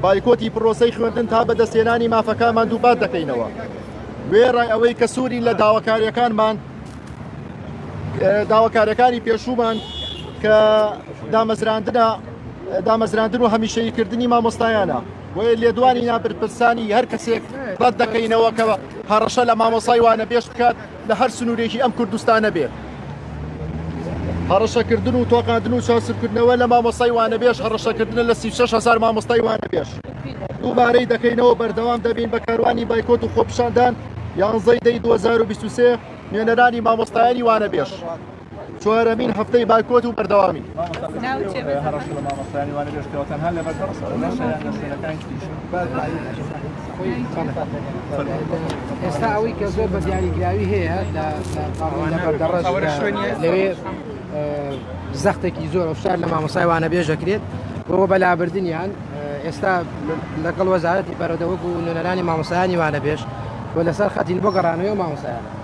بایکۆتی پرۆسەی خوێندن تا بەدەستێنانی مافەکانمان دووپات دەکەینەوە وێڕای ئەوەی کە سووری لە داواکاریەکانمان داواکارەکانی پێشوومان کە دامەزراندنا دامەزراندن و هەمیشەی کردنی مامۆستایانە وەیە لێدوانی نابرپرسانی هەر کەسێک ڕەت دەکەینەوە کەەوە هەڕەشە لە مامۆسای وانە پێش بکات لە هەر سنوورێکی ئەم کوردستانە بێ هەڕەشەکردن و تۆقاندن و چاسبکردنەوە لە مامۆستای وانەبێژ هەڕەشەکردنە لە 36 هزار مامۆستای وانەبێژ دووبارەی دەکەینەوە بەردەوام دەبین بە کاروانی بایکۆت و خۆپشاندان یانزەی دەی 2023 نوێنەرانی مامۆستایانی وانەبێژ چوارەمین هەفتەی بایکۆت و بەردەوامی ئێستا ئەوەی کە زۆر بە دیاریگراوی هەیە لە لەوێ زەختێکی زۆر فشار لە مامۆسایوانە بێژەکرێت بۆەوە بەلابردنیان ئێستا لەگەڵ وەزارەتی پەرەدەوەک و نوێنەرانی مامۆسایانی وانە بێش و لەسەر خەتین بۆ گەڕانەوەی مامۆسایان